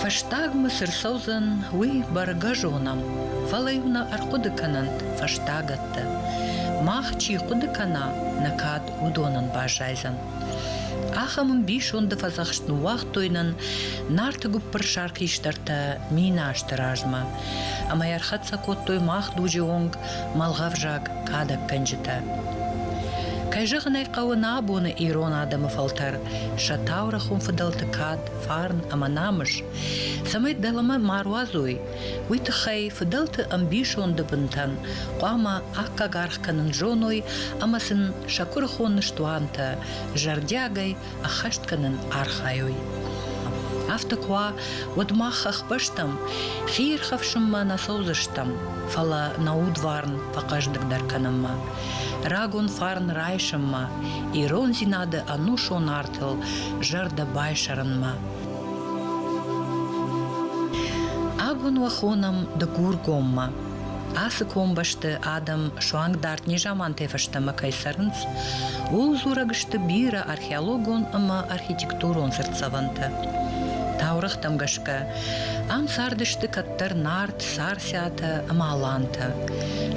Фӕстагмӕ цы рцӕудзӕн, уый бӕргӕ зонӕм, фӕлӕ-иу нӕ ӕрхъуыды кӕнӕнт фӕстагӕтты. Мах чи хъуыды кӕна, нӕ кад уыдонӕн баззайдзӕн. Ахӕм ӕмбисонды фӕдзӕхст ныууагътой нын Нарты гуыппырсар хистӕртӕ миназты размӕ, ӕмӕ ӕрхӕццӕ кодтой мах дуджы онг мӕлгъӕвзаг кадӕггӕнджытӕ. Кӕй зӕгъын ӕй хъӕуы, нӕ абоны ирон адӕмы фӕлтӕр сӕ таурӕгъ уым фыдӕлты кад, фарн ӕмӕ намыс, цӕмӕй дӕлӕмӕ ма руадзой, уый тыххӕй фыдӕлты ӕмбисонды бынтӕн хъуамӕ аккаг аргъ кӕнын зоной ӕмӕ сын сӕ куырыхон ныстуантӕ зӕрдиагӕй ӕххӕст кӕнын архайой. Афтӕ куы уа, уӕд мах ӕхбӕстӕм хи ирхӕфсынмӕ нӕ фӕуыдзыстӕм, фӕлӕ нӕ удварн фӕхъӕздыгдӕр кӕнынмӕ, рагон фарн райсынмӕ, ирондзинады ӕнусон артыл зӕрдӕ байсӕрынмӕ. Аг уын уӕ хонӕм Дыгургоммӕ. Ацы комбӕсты адӕм суанг дард незамантӕй фӕстӕмӕ кӕй цӕрынц, ууыл дзурӕг сты бирӕ археологон ӕмӕ архитектурон цыртдзӕвӕнтӕ. Таурӕгътӕм гӕсгӕ, ам цардысты кӕддӕр нард сарсӕтӕ ӕмӕ алантӕ.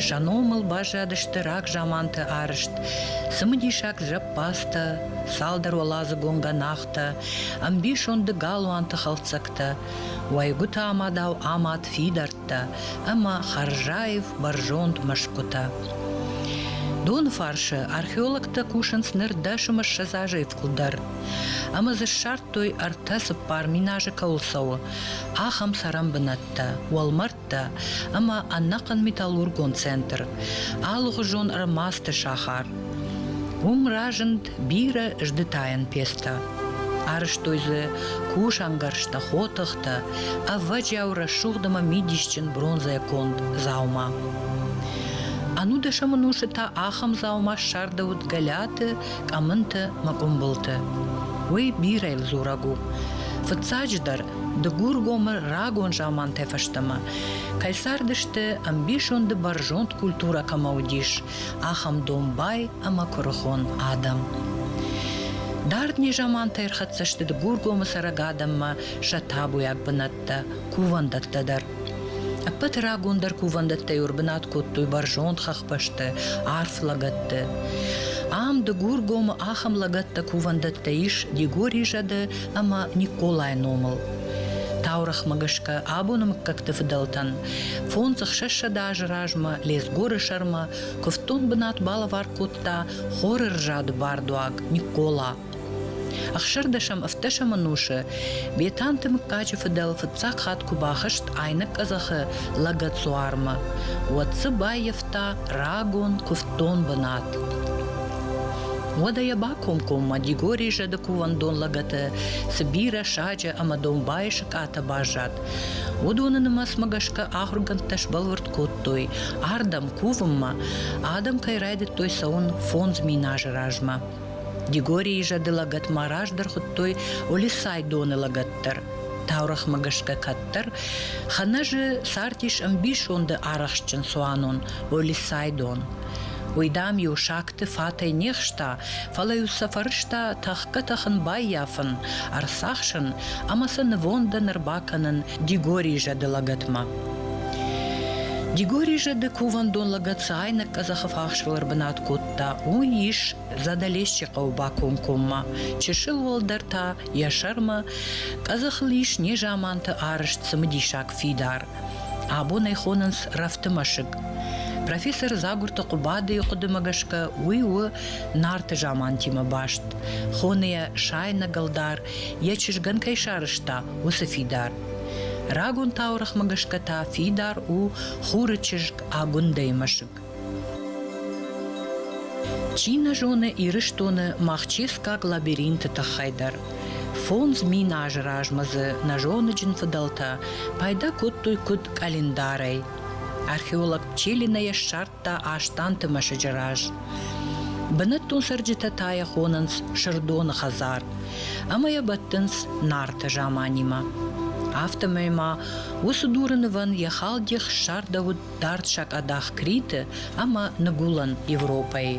Сӕ номыл баззадысты рагзаманты арызт, цымыдисаг зӕппӕдзтӕ, цалдӕр уӕладзыгон гӕнахтӕ, ӕмбисонды галуанты хӕлддзӕгтӕ, уӕйгуыты амадау амад фидар кодта ӕма Харжаев бӕрзонд мӕсгутӕ. Доны фарсы археологтӕ кусынц ныр дӕсым ссӕдз азӕй фылдӕр ӕмӕ дзы ссардтой ӕртӕ цыппар мин азы кӕуыл цӕуы, ахӕм цӕрӕнбынӕттӕ, уӕлмӕрдтӕ ӕмӕ ӕнӕхъӕн металлургон центр, алыгъуызон ӕрмадзты сахар. Уым разынд бирӕ здытайӕн пецтӕ. Арызтой дзы кусӕнгӕрзтӕ, хотыхтӕ, ӕввӕджиау рӕсугъд ӕмӕ мидисджын бронзӕйӕ конд дзаума. Ӕнудӕсӕмон усы та ахӕм дзаума ссардӕуыд гӕлӕты, къӕмынты мӕ къуымбылты. Уый бирӕ дзурӕг у. Фыццаджыдӕр, Дыгургомы рагон замантӕ фӕстӕмӕ кӕй цардысты, ӕмбисонды бӕрзонд культурӕ кӕмӕ уыдис, ахӕм домбай ӕмӕ куырыхон адӕм. Дард незамантӕ ӕрхӕццӕ сты Дыгургомы цӕрӕг адӕммӕ сӕ табуйаг бынӕттӕ, кувӕндӕттӕ дӕр. Ӕппӕт рагондӕр кувӕндӕттӕ ӕрбынат кодтой бӕрзонд хӕхбӕсты, арф лӕгӕтты. Ам Дыгургомы ахӕм лӕгӕттӕ кувӕндӕттӕ ис Дигори зӕды ӕмӕ Николайы номыл. Таурӕхмӕ гӕсгӕ абоны мыггӕгты фыдӕлтӕн Фондз ӕхсӕзсӕдз азы размӕ Лезгоры сӕрмӕ куывддон бынат балӕвар кодта хоры рзады бардуаг Микъола. Ӕхсӕрдӕсӕм-ӕвддӕсӕм ӕнусы Бетанты мыггаджы фыдӕл фыццаг хатт куы бахызт айнӕг къӕдзӕхы лӕгӕдзуармӕ, уӕд дзы баййӕфта рагон куывддон бынат. Уӕдӕ йӕ бакомкоммӕ Дигори зӕды кувӕндон лӕгӕты цы бирӕ саджы ӕмӕ домбайы сыкъатӕ баззад, Уыдоны нымӕцмӕ гӕсгӕ ахуыргӕндтӕ сбӕлвырд кодтой, ардӕм кувынмӕ адӕм кӕй райдыдтой цӕуын фондз мин азы размӕ. Дигорийы зӕды лӕгӕтмӕ раздӕр хуыдтой Олисай доны лӕгӕт дӕр. Таурӕгъмӕ гӕсгӕ кӕддӕр Ханӕзы цардис ӕмбисонды арӕхстджын цуанон Олисайдон. Уый, дам-иу сагты фатӕй не хста, фӕлӕ-иу сӕ фӕрӕзта тӕхгӕ-тӕхын баййафын, ӕрцахсын ӕмӕ сын нывондӕн ӕрбакӕнын Дигорийы зӕды лӕгӕтмӕ. Дигорий зӕды кувӕндон лӕгӕт цы айнӕг къӕдзӕхы фахсыл ӕрбынат кодта, уый ис Задалесчи хъӕуы бакомкоммӕ. Чысыл уӕлдӕр та йӕ сӕрмӕ къӕдзӕхыл ис незаманты арызт цымыдисаг фидар. Абон ӕй хонынц рӕфты мӕсыг. Профессор Дзагурты Хъуыбадыйы хъуыдымӕ гӕсгӕ, уый у нарты замантимӕ баст. Хоны йӕ сайнӕг ӕлдар йӕ чызгӕн кӕй сарӕзта, уыцы фидар. Рагон таурӕгъмӕгӕсгӕ та фидар у хуры чызг Агуындӕйы мӕсыг. Чи нӕ зоны Ирыстоны махческаг лабиринты тыххӕй дӕр. Фондз мин азы размӕ дзы нӕзоныджын фыдӕлтӕ пайда кодтой куыд къӕлиндарӕй. Археолог Пчелина йӕ ссард кодта Астанты мӕсыджы раз. Бынӕттон цӕрджытӕ та йӕ хонынц Сырдоны хӕдзар ӕмӕ йӕ бӕттынц Нарты заманимӕ. Афтӕмӕй ма уыцы дуры нывӕн йӕ халдих ссардӕуыд дард сакъадах Криты ӕмӕ Ныгуылӕн Европӕйы.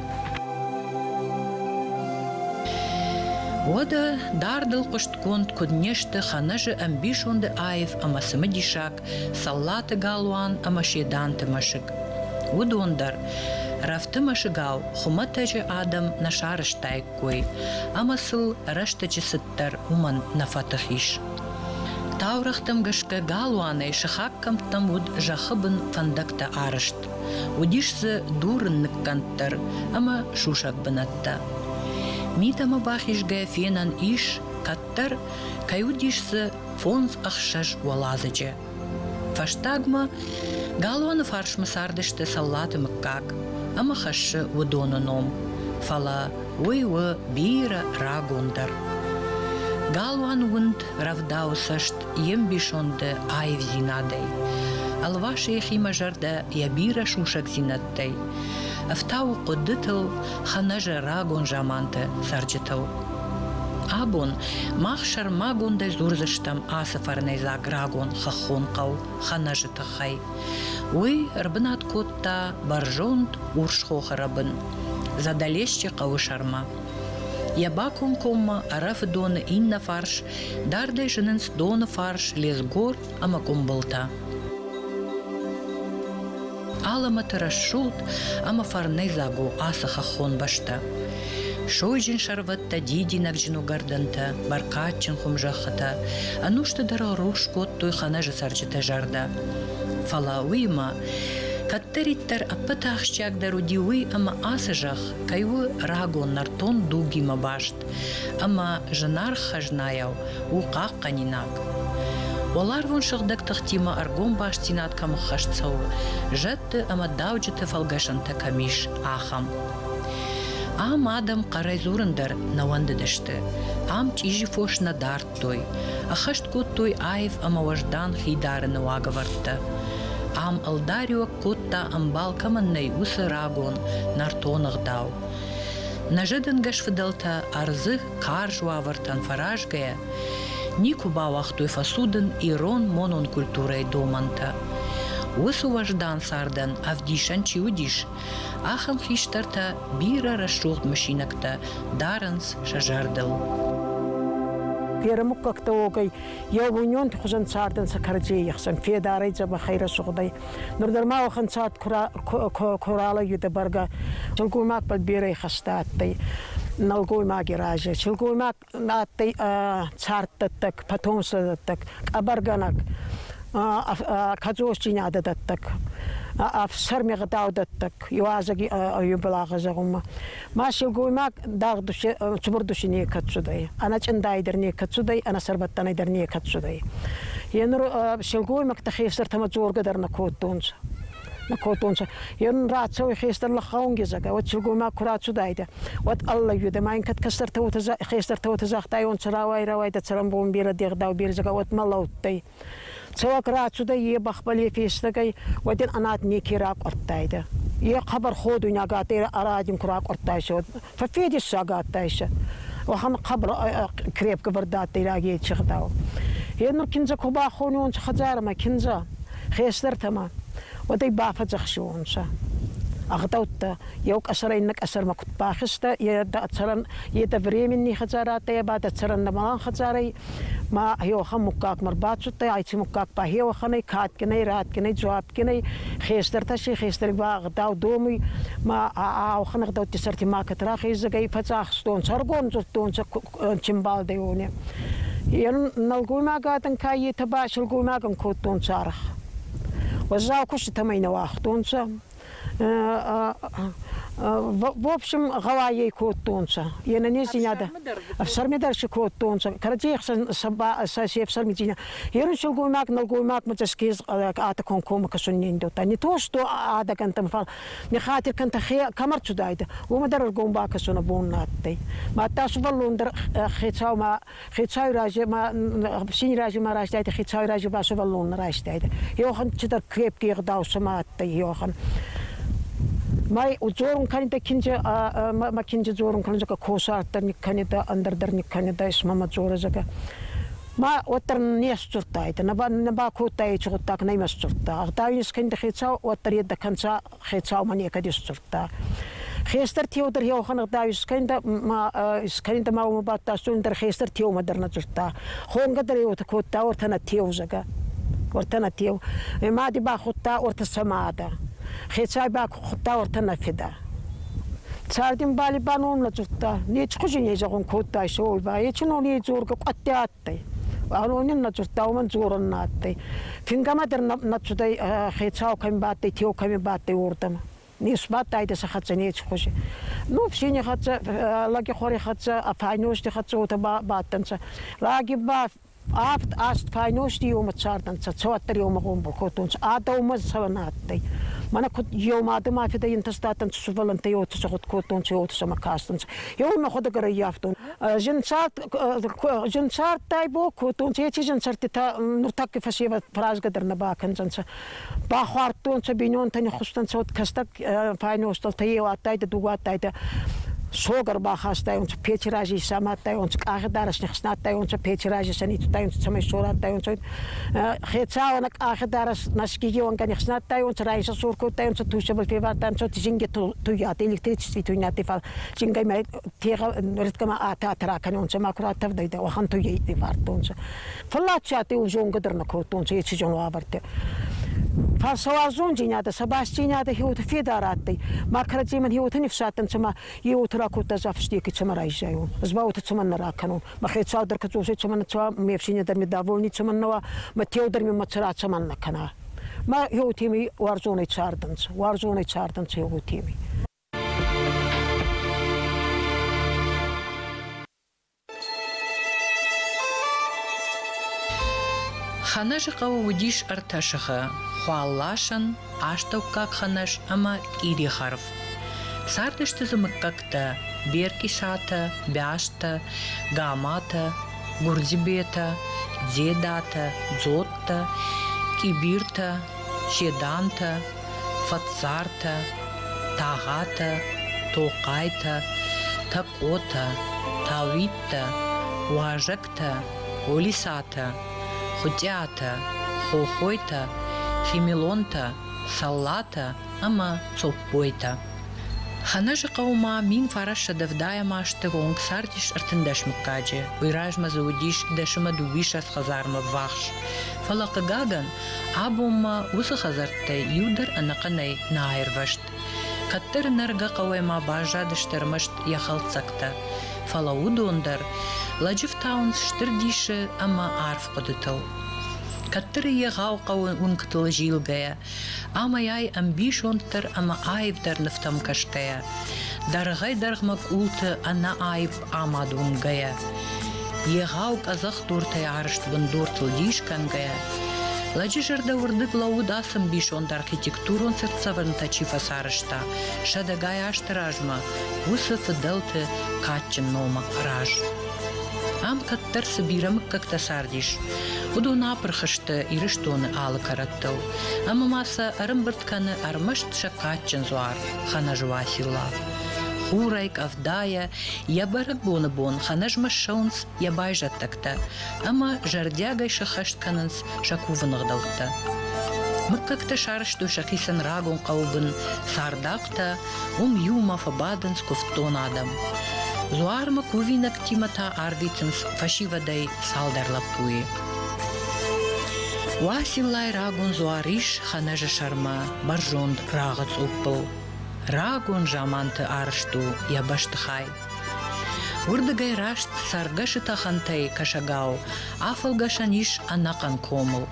Уӕдӕ дардыл хъуыстгонд куыд не сты Хӕнӕзы ӕмбисонды аив ӕмӕ цымыдисаг Цӕллаты Галуан ӕмӕ Седанты мӕсыг. Уыдон дӕр, рӕфты мӕсыгау, хуымӕтӕджы адӕм нӕ сарӕзтаиккой, ӕмӕ сыл рӕстӕджы цыддӕр уымӕн нӕ фӕтых ис. Таурӕгътӕм гӕсгӕ галуанӕй сыхаг кӕмттӕм уыд зӕххы бын фӕндӕгтӕ арызт. Уыдис дзы дурын ныккӕнд дӕр ӕмӕ сусӕг бынӕттӕ. Митӕмӕ бахизгӕ фенӕн ис, кӕддӕр кӕй уыдис дзы фондз ӕхсӕз уӕладзыджы. Фӕстагмӕ галуаны фарсмӕ цардысты Цӕллаты мыггаг ӕмӕ хӕссы уыдоны ном, фӕлӕ уый у бирӕ рагондӕр. Галуан уынд рӕвдауы цӕст йе мбисонды аивдзинадӕй. Ӕлвасы йӕхимӕ зӕрдӕ йӕ бирӕ сусӕгдзинад ӕфтауы хъуыддытыл хӕнӕзӕрагон заманты цӕрджытыл. Абон мах сӕрмагондӕй дзурдзыстӕм ацы фӕрнӕйдзаг рагон хӕххон хъӕу Хӕнӕзы тыххӕй. Уый ӕрбынат кодта бӕрзонд Урсхохы рӕбын Задӕлесчы хъӕуы сӕрмӕ. Йӕ бакомкоммӕ ӕрӕфы доны иннӕ фарс дардӕй зынынц доны фарс Лезгор ӕмӕ къуымбылтӕ. Алӕмӕты рӕсугъд ӕмӕ фӕрнӕйдзаг у ацы хӕххон бӕстӕ. Сойджын сӕрвӕттӕ, дидинӕгджын уыгӕрдӕнтӕ, бӕркадджын хуымзӕххытӕ ӕнусты дӕр рухс кодтой хӕнӕжы цӕрджыты зӕрдӕ. Фӕлӕ уыимӕ кӕддӕриддӕр ӕппӕт ахсджиагдӕр уыди уый, ӕмӕ ацы зӕхх кӕй у рагон нӕртон дугимӕ баст. Ӕма зынаргъ хӕзнайау у хъахъхъӕнинаг. Уӕларвон сыгъдӕг тыхтимӕ ӕргом бастдзинад кӕм ӕххӕст цӕуы, зӕдты ӕмӕ дауджыты фӕлгӕсӕнтӕ кӕм ис, ахӕм. Ам адӕм хъӕрӕй дзурын дӕр нӕ уӕндыдысты. Ам чъизи фос нӕ дардтой, ӕххӕст кодтой аив ӕмӕ уӕздан хидарыны уагӕвӕрдтӕ. Ам ӕлдариуӕг кодта, ӕмбал кӕмӕн нӕй, уыцы рагон, нӕртон ӕгъдау. Нӕзӕдӕнгӕс фыдӕлтӕ ӕрдзы карз уавӕртӕн фӕразгӕйӕ, никуы бауагътой фӕцудын ирон монон культурӕйы домӕнтӕ. Уыцы уӕздан цардӕн ӕвдисӕн чи уыдис, ахӕм хистӕртӕ бирӕ рӕсугъд мысинӕгтӕ дарынц сӕ зӕрдыл. Берӕ муггӕгтӕ уогӕй, еугъуйнионти хузӕн цардӕнцӕ кӕрӕдзей ӕхсӕн федарӕй, дзӕбӕхӕй, рӕсугъдӕй. Нур дӕр ма уӕхӕн цат ку ралӕгидӕ бӕргӕ, сылгоймагбӕл берӕ ихӕстӕ адтӕй нӕлгоймаги разе. Сылгоймаг адтӕй царддӕттӕг, потомстводӕттӕг, къӕбӕргӕнӕг, кӕдзосдзийнадӕ дӕттӕг, ӕфсӕрми гъдаудӕттӕг, еуазӕги еубӕлагъи зӕгъунмӕ. Ма силгоймаг дагъд цубур души некӕд цудӕй, ана чъиндай дӕр некӕд цудӕй, ана сӕрбӕттӕнӕй дӕр некӕд цудӕй. Е нур силгоймӕгтӕ хестӕртӕмӕ дзоргӕ дӕр нӕ кодтонцӕ на кодтонцӕ. Е нун рацӕуй хестӕр лӕхъаунгезагӕ, уӕд силгоймаг ку рацудайдӕ, уӕд аллайудӕ ма ин кӕд кӕстӕртӕ уотӕ хестӕртӕ уотӕ загътайонцӕ, рауай, рауай, дӕ цӕрӕнбон берӕ дегъдау бердзагау, уӕд ма лӕудтӕй. Цӕуӕг рацудӕй е бӕхбӕле фестӕгӕй, уӕден Анат неке ракъуӕрдтайдӕ. Е хъӕбӕр ходуйнаг адтӕй, ӕ радин ку ракъуӕрдтайсӕ, уӕд фӕффедессаг адтайсӕ. Уӕхӕн хъӕбӕр крепкӕвӕрд адтӕй рагей чегъдау. Е нур киндзӕ ку бахонуонцӕ хӕдзарӕмӕ, киндзӕ, хестӕртӕмӕ, уӕд ӕй бафӕдзӕхсиуонцӕ. Ӕгъдӕуттӕ Еу къӕсӕрӕй иннӕ къӕсӕрмӕ куд бахизтӕ, е дӕ цӕрӕн, е дӕ временный хӕдзар адтӕй, ба дӕ цӕрӕн нӕмӕлӕн хӕдзарӕй. Ма еуӕхӕн муггагмӕ рбацудтӕй, айци муггаг ба еуӕхӕнӕй кадгинӕй, радгинӕй, дзуапгинӕй, хестӕртӕ си хестӕри ба гъдау домуй. Ма аохӕн гъдӕутти сӕрти макӕт рахездзагӕй, фӕдзӕхстонцӕ, ӕргон зудтонцӕ чинбалдӕй уони. Е нӕлгоймагадӕн ка етӕ ба силгоймагӕн кодтонцӕ арх. Уӕззау куститӕмӕй нӕ уагътонцӕ. В общем, гъӕуайӕй кодтонцӕ. Е нӕнездзийнадӕ ӕфсӕрмӕ дӕр си кодтонцӕ. Кӕрӕдзей ӕхсӕн сӕ се ӕфсӕрмидзийнӕ. Ерун силгоймаг, нӕлгоймагмӕ тӕскез атакон коммӕ кӕсуннендӕута. Не то, что адагӕнтӕн, фал не хатир кӕнтӕ хе кӕмӕр цудайдӕ, уомӕ дӕр ӕргом бакӕсун бон адтӕй. Мадта сувӕллон дӕр хецаумӕ Хецауи рази син рази ма райстайдӕ, хецауи рази ба сувӕллон райстайдӕ. Йохан цидӕр крепкий гъдау цума адтӕй Йохан. Май дзорун кӕнидӕ киндзе, ма киндзе дзорун кӕнидӕ, ка косартӕ никкӕнидӕ, ӕндӕрдӕр никкӕнидӕ, исма ма дзорӕ зӕгӕ. Ма уӕддӕр не сдзурдтайдӕ, нӕ ба кодтайци гъуддаг нӕ ма сдзурдта. Гъдау ин скӕнидӕ хецау, уӕддӕр еддӕ кӕнцӕ хецаумӕ некӕд исдзурдта. Хестӕр теу дӕр еухан гъда искӕнда искӕнда ма ума баттастун дӕр хестӕр теумӕ дӕр нӕ дзурдта. Хонгӕ дӕр еута кодта ортӕ нӕ теу зӕгӕ. Ортӕ нӕ теу. Мади бахудта орта сӕмадӕ. Хецай бахудта ортӕ нӕ феда. Цардин бали баном нӕ дзурдта. Нечи хузин езӕгун кодтай, Солбай, ечи нон ей дзоргӕ къуӕтти адтӕй. Аронин на цъустау ман дзорун на адтӕй. Фингӕмӕ дӕр на цудӕй хецау кӕми бадтӕй, теу кӕми бадтӕй уордӕмӕ. Нисбадтайдӕ сӕ хӕццӕ неци хузӕ. Ну фсини хӕццӕ, лӕгехуари хӕццӕ, а файнозти хӕццӕ уотӕ бадтӕнцӕ. Лаги ба авд аст файнозти еумӕ цардӕнцӕ, цӕуӕддӕр еумӕ гъомбӕл кодтонцӕ. А дӕумӕ цӕуӕн адтӕй. Мӕнӕ куд еума адӕмӕ фидӕ ентӕстадтӕнцӕ, сувӕллӕнттӕ еуӕ сӕгъуд кодтонцӕ, еуӕ сӕмӕ кастӕнцӕ. Еумӕ худӕг ӕрӕййафтон. Жынсарттӕй бо кодтон, ечи жынсӕрттитӕ нуртӕкки фӕсевӕд фӕразгӕ дӕр нӕ бакӕндзӕнцӕ. Бахуардтонцӕ, бийнонтӕ ниххустӕнцӕ, уӕд кӕстӕг файностӕлтӕ еу адтайдӕ, дугу адтайдӕ. Согар бахастайонцӕ, печи рази исамадтайонцӕ, къахи дарӕс нихснадтайонцӕ, печи рази санитутайонцӕ, цӕмӕй сорӕдтайонцӕ. Хецауӕнӕ къахи дарӕс наскигиуангӕ нихснадтайонцӕ, раисӕ сор кодтайонцӕ, туйсӕбӕл февардтайонцӕ, зингӕ туййат, электричество туйнати фал зингӕй мӕ пегъ ататра кӕнонцӕ ма куратӕвдайдӕ уӕхӕнту ей ивардтонцӕ. Фаллачати ун зонгӕ дӕр нӕ кодтонцӕ ечи зон уавӕртӕ. Фал сауарзондзийнадӕ, сабастдзийнадӕ хеуоти федар адтӕй. Ма кӕрӕдземӕн хеуоти нифсадтӕнцӕ ма еуоти ракодта зафстеки цӕмӕ райззайон, ӕз ба уотӕ цӕмӕн нӕ ракӕнон. Ма хецау дӕр кӕдзосӕй цӕмӕн нцӕуа, ме ӕфсийнӕ дӕр ми довольни цӕмӕн нӕ уа, ма теу дӕр ми мацара цӕмӕн нӕ кӕна. Ма еуотеми уарзонӕй цардӕнцӕ, уарзонӕй цардӕнцӕ еуотеми. Ханӕзыхъӕуы уыдис ӕртӕ сыхы: Хуалласӕн, астӕуккаг Ханӕз ӕмӕ Къирихарв. Цардысты дзы мыггӕгтӕ: Беркъисатӕ, Бястӕ, Гаматӕ, Гурдзибетӕ, Дзедатӕ, Дзоттӕ, Къибиртӕ, Седантӕ, Фӕцартӕ, Тагъатӕ, Тохъайтӕ, Тӕкъотӕ, Тауиттӕ, Уазӕгтӕ, Олисатӕ, Хуытъиатӕ, Хохойтӕ, Фемелонтӕ, Саллатӕ ӕмӕ Цоппойтӕ. Ханӕзыхъӕуы ма мин фарассӕдз ӕвдайӕм азты онг цардис ӕртындӕс мыггаджы. Уый размӕ дзы уыдис дӕсӕмӕ дыууиссӕдз хӕдзармӕ ввахс. Фӕлӕ, хъыгагӕн, Абон ма уыцы хӕдзӕрттӕй иу дӕр ӕнӕхъӕнӕй нӕ аирвӕзт. Кӕддӕр нӕргӕ хъӕуӕй-ма баззадысты ӕрмӕст йӕ хӕлддзӕгтӕ, фӕлӕ уыдон дӕр лӕджы фтауынц стыр дисы ӕмӕ арф хъуыдытыл. Кӕддӕр егъау хъӕуы уынгтыл зилгӕйӕ, амӕй-ай ӕмбисонддӕр ӕмӕ аивдӕр нывтӕм кӕсгӕйӕ, дӕргъӕй-дӕргъмӕ къулты ӕнӕаив амад уынгӕйӕ, егъау къӕдзӕхдуртӕй арызт бындуртыл дис кӕнгӕйӕ, лӕджы зӕрдӕ уырдыг лӕууыд ацы мбисонд архитектурон цыртдзӕвӕнтӕ чи фӕцарӕзта, сӕдӕгай азты размӕ уыцы фыдӕлты кадджын номы раз. Ам кӕддӕр цы бирӕ мыггӕгтӕ цардис, уыдон апырх сты Ирыстоны алы кӕрӕттыл, ӕмӕ ма сӕ ӕрӕмбырд кӕны ӕрмӕст сӕ кадджын дзуар Ханӕжы Уасилла. Хурӕй къӕвдайӕ йӕ бӕрӕгбоны бон хӕнӕзмӕ ссӕуынц йӕ байзӕддӕгтӕ ӕмӕ зӕрдиагӕй сӕххӕст кӕнынц сӕ кувыны гъдӕуттӕ. Мыггӕгтӕ сарӕзтой сӕхицӕн рагон хъӕуыбын цардахътӕ, уым иумӕ фӕбадынц куывддон адӕм. Дзуармӕ кувинӕгтимӕ та ардитынц фӕсивӕдӕй цалдӕр лӕппуйы. Уасиллайы рагон дзуар ис Хӕнӕзы сӕрмӕ, бӕрзонд рагъы цъуппыл. Рагон заманты арызт у йӕ бӕстыхай. Уырдыгӕй раст цӕргӕсы тӕхӕнтӕй кӕсӕгау афӕлгӕсӕн ис ӕнӕхъӕн комыл.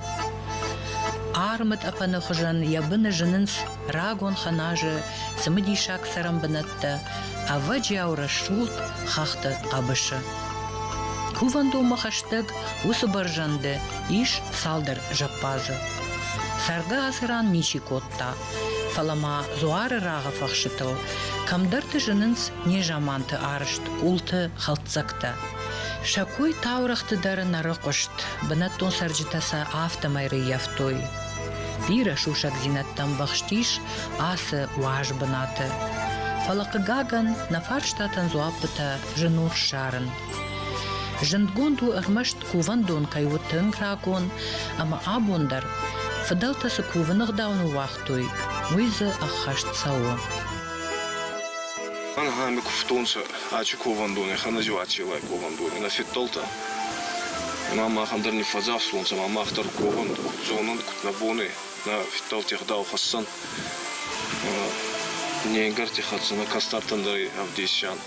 Армытъӕпӕны хуызӕн йӕ быны зынынц рагон хӕназы цымыдисаг цӕрӕнбынӕттӕ, ӕвӕджиау рӕсугъд хӕхты хъӕбысы. Кувӕндонмӕ хӕстӕг уыцы бӕрзӕнды ис цалдӕр зӕппадзы. Цӕргӕ ацы ран ничи кодта. Фӕлӕ ма дзуары рагъыфӕхсытыл кӕмдӕрты зынынц незаманты арызт къулты хӕлддзӕгтӕ. Сӕ кой таурӕгъты дӕр нӕрыхъуыст, бынӕттон цӕрджытӕ сӕ афтӕмӕй рыййӕфтой. Бирӕ сусӕгдзинӕдтӕ ӕмбӕхстис ацы уаз бынаты. Фӕлӕ, хъыгагӕн, нӕ фарстатӕн дзуаппытӕ зын у ссарын. Зындгонд у ӕрмӕст кувӕндон кӕй у тынг рагон ӕмӕ абон дӕр фыдӕлтӕ цы кувыны ӕгъдау ныууагътой, уый дзы ӕххӕст цӕуы. Ӕнӕ ныкуывтонцӕ ачи ковӕндонӕй, хӕнӕзиуатси лай ковӕндони, нӕ феддӕлтӕ. Ма махӕн дӕр не фӕдзӕхстонцӕ, ма мах дӕр ковӕн, куд зонӕн, куд нӕ бонӕй, нӕ феддӕлти ӕгъдау хӕссӕн. Не ӕнгарти хӕццӕ, нӕ кӕстӕртӕн дӕр ӕвдесӕн.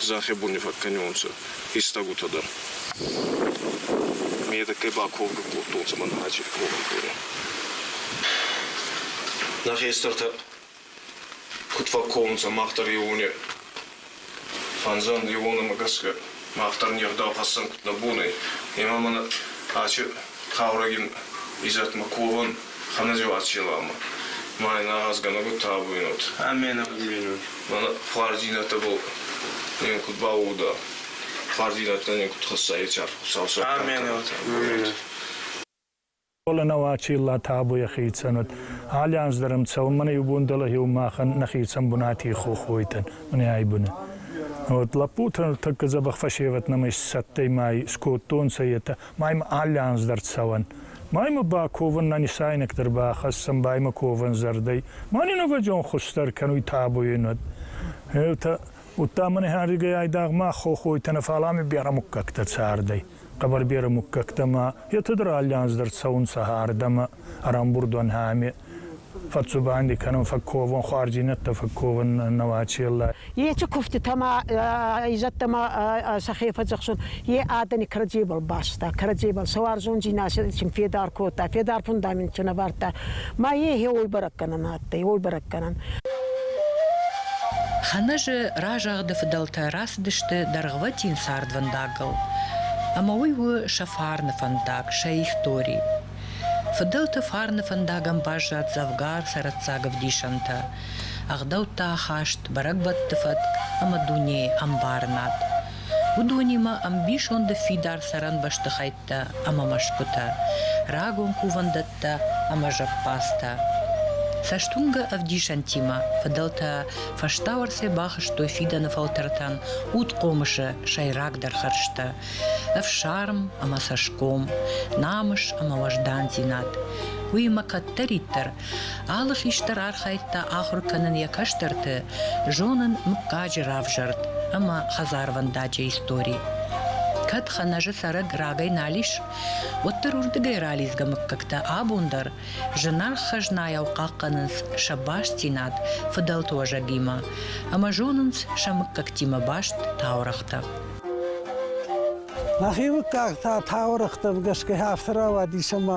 Дзӕхебуни фӕккӕнуонцӕ фистӕгутӕ дӕр. Медӕггӕй ба ковгӕ кодтонцӕ мӕнӕ Ачери ковӕн корӕ. Нӕ хестӕртӕ куд фӕкковунцӕ мах дӕр еуоне фӕнзӕн еуонӕмӕ гӕсгӕ, Мах дӕр не гъдау хӕссӕн куд нӕ бон ӕй, ӕма мӕн аче хъаурӕгин изӕдмӕ ковун хӕнӕзеуат селамӕ. Ма ин агъазгӕнӕг табуйнот. Амменӕгуйнот. Мӕнӕ хуӕрдзийнӕдтӕбӕл нин куд бауууда, хуӕрдзийнӕдтӕ нин куд хӕсса, е цард Хуцау сӕттӕнкӕ. Амменӕт. Фӕлӕ нӕ уачи иллӕ табу йӕхи цӕнӕт. Али анз дӕр ӕм цӕуын мӕнӕ иу бон дӕлӕ иу махӕн нӕхи цӕн бунати хохойтӕн, мӕнӕй быны. Вот лӕппутӕ тӕккӕ дзӕбӕх фӕсевӕд нӕмӕ исцӕттӕй май скодтонцӕ, етӕ маймӕ али анз дӕр цӕуӕн. Маймӕ ба ковӕн нӕ нисайнӕгдӕр бахӕссӕн баймӕ ковӕн зӕрдӕй. Мӕни нӕвӕдзон хуссдӕр кӕнуй табуйи нуд. Етӕ удта мӕнӕ ӕригӕй айдагъ ма хохойтӕ нӕ фалами берӕ муггӕгтӕ цардӕй. Хъӕбӕрберы муггӕгтӕмӕ, етӕдӕр аллианз дӕр цӕунцӕ ардӕмӕ, ӕрӕмбурдон ами. Фӕццубанди кӕнун фӕкковун, хуӕрдзийнӕдтӕ фӕкковун нӕуӕ челлӕй. Ечи кувдтитӕмӕ, изӕдтӕмӕ сӕхе фӕдзӕхсун, е адӕни кӕрӕдзебӕл баста, кӕрӕдзебӕл сауӕрзондзийнадӕ син федар кодта, федар фундаментӕн ӕвардта. Ма е гье уой бӕрӕг кӕнӕн ӕ йыл бӕрӕггӕнӕн. Хӕнӕжы разагъды фыдӕлтӕ рацыдысты дӕргъвӕтин цардвӕндагыл, ӕмӕ уый у сӕ фарны фӕндаг, сӕ истори. Фыдӕлты фарны фӕндагӕн баззад дзӕвгар цӕрӕццаг ӕвдисӕнтӕ, ӕгъдӕуттӕ ахаст, бӕрӕгбӕтты фӕтк ӕмӕ дунейы ӕмбарынад. уыдонимӕ ӕмбисонды фидар цӕрӕн бӕстыхӕйттӕ ӕмӕ мӕсгуытӕ, рагон кувӕндӕттӕ ӕмӕ зӕппадзтӕ. Цӕстуынгӕ ӕвдисӕнтимӕ фыдӕлтӕ фӕстауӕрцӕй бахызтой фидӕны фӕлтӕртӕн удхъомысы сӕйрагдӕр хӕрзтӕ – ӕфсарм ӕмӕ цӕсгом, намыс ӕмӕ уӕздандзинад. Уыимӕ кӕддӕриддӕр Алы хистӕр архайдта ахуыр кӕнын йӕ кӕстӕрты, зонын мыггаджы равзӕрд ӕмӕ хӕдзарвӕндаджы истори. Кӕд Хӕнӕжы цӕрӕг рагӕй нал ис, уӕддӕр уырдыгӕй ралидзгӕ мыггӕгтӕ абон дӕр зынаргъ хӕзнайау хъахъхъӕнынц сӕ бастдзинад фыдӕлты уӕзӕгимӕ ӕмӕ зонынц сӕ мыггӕгтимӕ баст таурӕгътӕ. Мӕхи мыггаг та таурӕгътӕм гӕсгӕ афтӕ рауадис, ӕмӕ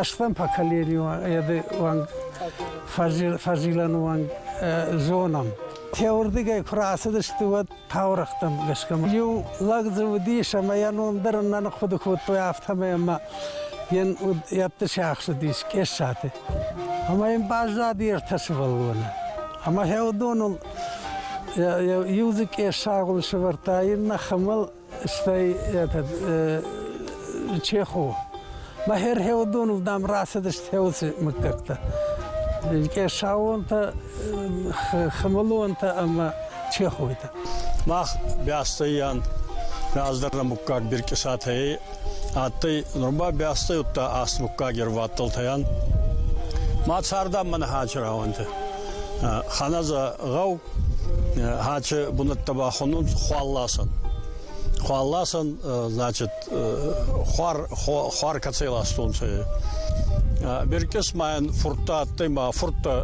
Ӕсфӕн па калериуан еди уанг фӕзилӕн уанг зонам. Теуырдигӕй куы рацыдысты, уӕд таурӕгътӕм гӕсгӕ иу лӕг дзы уыдис ӕмӕ йӕ ном дӕр ын нӕ ныхъуыды кодтой афтӕмӕй ӕмӕ йын ӕтты сиахсыдис Къессаты. Ӕмӕ йын баззади ӕртӕ сывӕллоны. Ӕмӕ хӕдоныл иу дзы къессагъуын сывӕрдта, иннӕ хымыл, Стӕй этот Чеху. Мӕ херхеудонов дам рацыдысты хеуцы мыггӕгтӕ. Къесауонтӕ, хымылонтӕ ӕмӕ чехойтӕ. Мах бӕстӕйӕн раздӕр нӕ муггаг биркъысатӕй адтӕй, нур ба бӕстӕй удта аст муггаг ервӕттӕлтӕйӕн. Ма цардӕн мӕнӕ хачы рауӕнтӕ. Ханаза гъӕу хаче бунӕттӕ бахонун хуалласӕн. Хуалласӕн, значит, хуар, хуар кӕцӕй ластонцӕ. Беркес майӕн фурттӕ адтӕй ма фурттӕ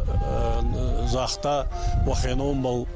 загъта, уӕхеномбӕл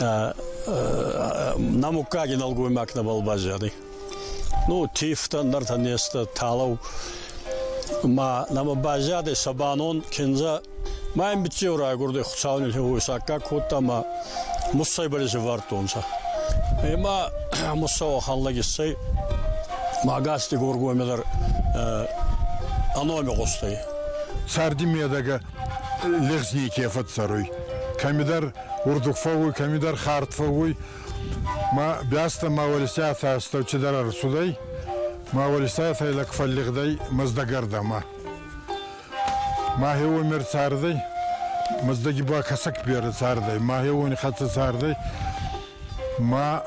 на муггаги нӕлгоймаг нӕбал баззади. Ну, тифтӕ, нартӕ нестӕ, талау. Ма нӕмӕ баззади сабанон кинза Мӕ биццеу райгурди Хуцауни хевойсаккаг кодта ма муссай балезевардтонцӕ. Ема муссау ханлаг иссӕй магасти горгоймедар аноми гъустӕй. Царди медӕгӕ легъзни ке фӕццӕруй. Кӕмидӕр Урдук фӕууй, кӕмидӕр хард фӕууй. Ма бӕстӕ ма уӕлисӕфӕ астӕу чидӕр ӕрцудӕй, ма уӕлисӕфӕй лӕг фӕллигъдӕй мӕздӕгӕрдӕмӕ. Мӕхе уоми цардӕй, мӕздӕги ба кӕсӕг берӕ цардӕй, мӕхе уони хӕццӕ цардӕй, Ма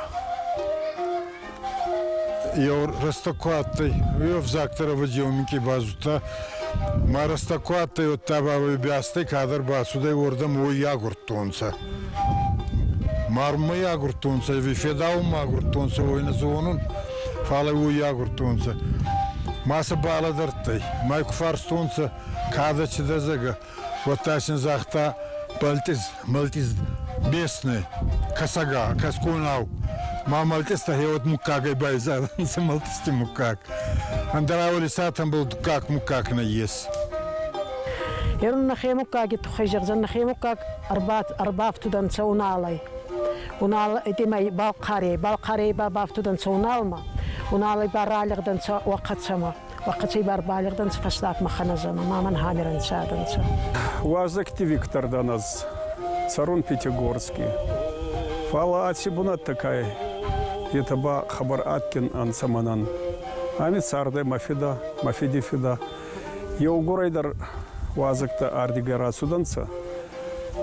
еу рӕстӕг ку адтӕй, уе взӕгтӕ рӕвдзи уоминки базудта, ма рӕстӕг ку адтӕй, уӕдта ба бӕстӕй кадӕр бацудӕй, уордӕм уой агурдтонцӕ. Марунмӕ агурдтонцӕ, ӕви федаунмӕ агурдтонцӕ, уой нӕ зонун, фал ӕй уой агурдтонцӕ. Ма сӕ балӕдӕрдтӕй, ма й ку фарстонцӕ, кадӕ чи дӕ, зӕгӕ, Уӕдта син загъта Бӕлтъиз, Мӕлтъиз бесный, косога, косгунау. Ма мӕлтъизтӕ хеуӕд мугкагӕй байзарӕнцӕ мӕлтъизти мугкаг. Ӕндӕра уолисатӕн бул дуккаг-мугкаг нӕййес. Ерун нӕхе мугкаги туххӕй зӕгъзан, нӕхе мугкаг ӕрбафтудӕнцӕ Уналӕй. Унал итимӕй Балхъарей, Балхъарей ба бафтудӕнцӕ Уналмӕ. Уналӕй ба ралигъдӕнцӕ Уӕхъӕцӕмӕ. Ваккацей бар балигъдӕнцӕ фӕстагмӕ хӕнӕзӕмӕ ма мӕн хамерӕнцӕ адӕнцӕ. Уазӕгти Виктор дӕн ӕз, цӕрун Пятигорски. Фал аци бунӕттӕ ка етӕ ба хабар адтӕн ӕнцӕ мӕнӕн. Ами цардӕй мӕ фидӕ, мӕ фиди фидӕ. Еугурӕй дӕр уазӕгтӕ ардигӕ рацудӕнцӕ.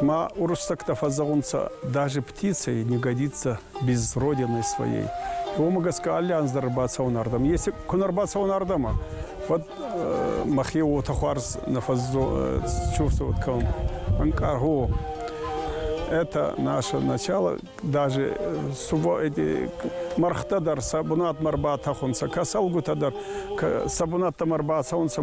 Ма уруссӕгтӕ фӕззӕгъунцӕ даже птицей не годится без родины своей. Его мы гаска аллианс дары бацӕун ардӕм. Если кун ӕрбацӕун ардӕмӕ, уӕд мӕхе уотӕ хуарз нафӕззо чувствовать к вам. Анкарго, это наше начало, даже суво эти мархта дар сабунат марбата хунца, касалгута дар сабунатта марбацаунца.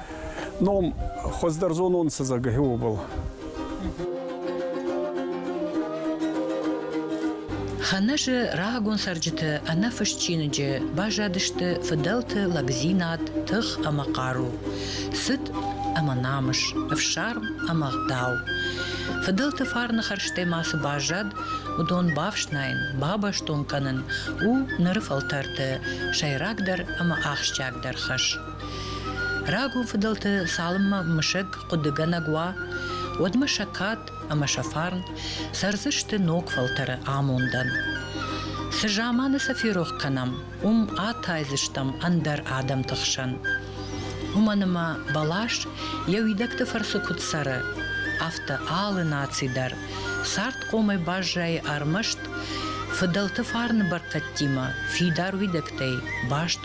ном хуыздӕр зонон сызӕгы уобыл. Хӕнӕзы рагон цӕрджыты ӕнӕфыст чиныджы баззадысты фыдӕлты лӕгдзинад, тых ӕмӕ хъару, цыт ӕмӕ намыс, ӕфсарм ӕмӕ гъдау. Фыдӕлты фарны хӕрзтӕ ма цы баззад, уыдон бафснайын, бабӕстон кӕнын у ныры фӕлтӕрты сӕйрагдӕр ӕмӕ ахсджиагдӕр хӕс. Рагон фыдӕлты цалынмӕ мысӕг хъуыдыгӕнӕг уа, уӕдмӕ сӕ кад ӕмӕ сӕ фарн цӕрдзысты ног фӕлтӕры амондӕн. Цы заманы сӕ ферох кӕнӕм, уым атайдзыстӕм ӕндӕр адӕмты хсӕн. Уымӕн ӕмӕ бӕлас йӕ уидӕгты фӕрцы куыд цӕры, афтӕ алы наци дӕр цардхъомӕй баззайы ӕрмӕст фыдӕлты фарны бӕркӕдтимӕ фидар уидӕгтӕй баст